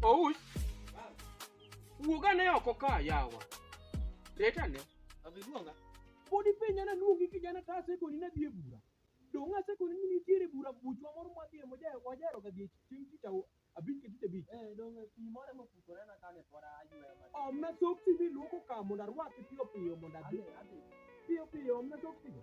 Ouch. Wuog ane oko ka yawa. Ret ane. Abiluonga. Pod ipenja na luongi kijana ka asekoni na dhi e bura. Dong' asekoni ni nitiere bura buchwa moro mwa dhi e mojae wajero ga dhi e chieng' tich au- abich ka tich abich. Eh, dong' pi moro ema opukore na kane pod ayweyo matin. Omna soksi miluoko ka mondo arwaki piyo piyo mondo adhi. Adhi, adhi. Piyo piyo omna soksi go.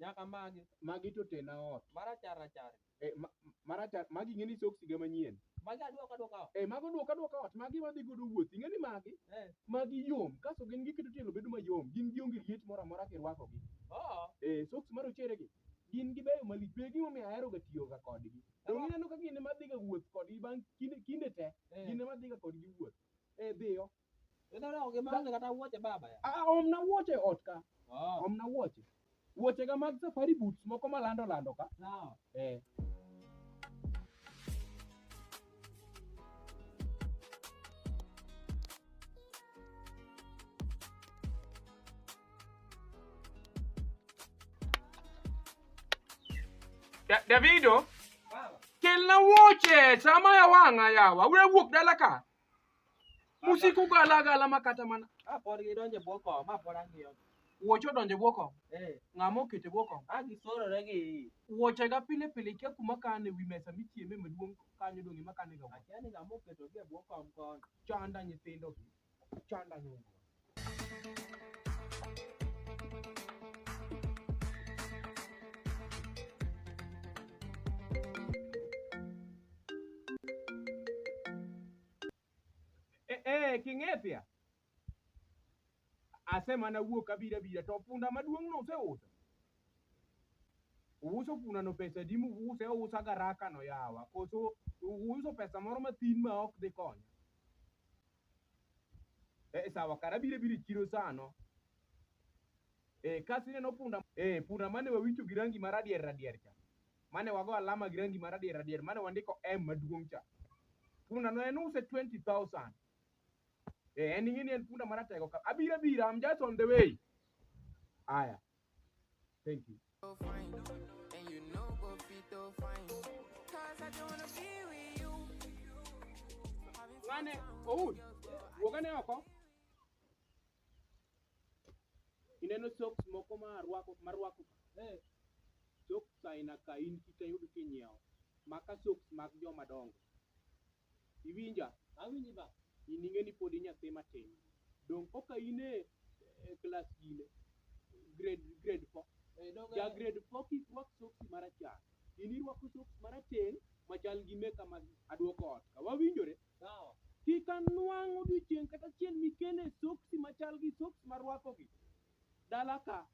Nyaka magi. Magi to tena ot. Marachar rachar. Eh, ma, marachar, magi ing'eni soksi ga manyien. Magi aduoka duoka ot. Eh, mago duoka duoka ot, magi wadhi godo wuoth. Ing'eni magi? Eh. Magi yom, kaso gin giketo tielo bedo mayom. Gin gionge liet moro amora kirwakogi. Oh. Eh, soksi marochere gi. Gin gibeyo malich, be gimomiyo ahero ga tiyo ga kodgi. Donge ineno ka gin ema adhiga wuoth kodgi bang' kinde kinde te. Eh. Gin ema adhiga kodgi wuoth. Eh, dhiyo. Ina na oge bang kata wuoche baba ya. Ah, omna wuoche ot ka. Oh. Omna wuoche. Wuoche ga mag safari boots moko malando lando ka. Sawa. Eh. Da- Davido, Baba. kelna wuoche sama ya wang'a yawa. Ure wuok dala ka. Musiku gala gala makata mana. Ah, pod gidonje bwo kom, ma pod ang'iyo. Wuoche odonje bwo kom. Eh. Ng'ama okete bwo kom. Ah, gisorore gi. Wuoche ga pile pile kia kuma kane wi mesa michieme maduong' kanyo dong' ema kane ga. Akia ni ng'ama oketo gi bwo kom kon. Chanda nyithindo. Chanda nyundo. e king'ethia asemana wuok abira abira to punda maduong' no useuso uuso punda no pesa di muuse ousa garaka no yawa koso uuso pesa moro mathin ma ok dhi konya Eh, sawa kara bire bire chiro sano. Eh, kasi neno punda. Eh, punda mane wawicho gi rangi maradier radier cha. Mane wago alama gi rangi maradier radier. Mane wandiko M maduong' cha. Punda no en use 20,000. Eh, en ing'e ni en punda maratego ka. Abira bira, I'm just on the way. Aya. Thank you. And you know go fit to find. Cause I don't wanna be with you. Mane, Oud, wogane oko. Ineno socks moko ma rwako ma rwako. Eh. Socks aina ka in kika yudo kinyiewo. Maka socks mag joma dongo. Iwinja? Awinji baba. In ing'e ni pod inyathi matin. Donge koka in e e klas gine? Grade grade 4. Eh, donge- Ja grade 4 kik rwak soksi marachar. In irwako soksi marateng' machal gi meka ma aduoko ot. Ka wawinjore? Sawa. Kik anwang' odiochieng' kata achiel mikele soksi machal gi soksi marwakogi. Dala ka.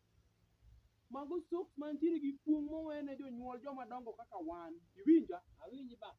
Mago soksi mantiere gi kuong' mowene jonyuol joma dongo kaka wan. Iwinja? Awinji baba.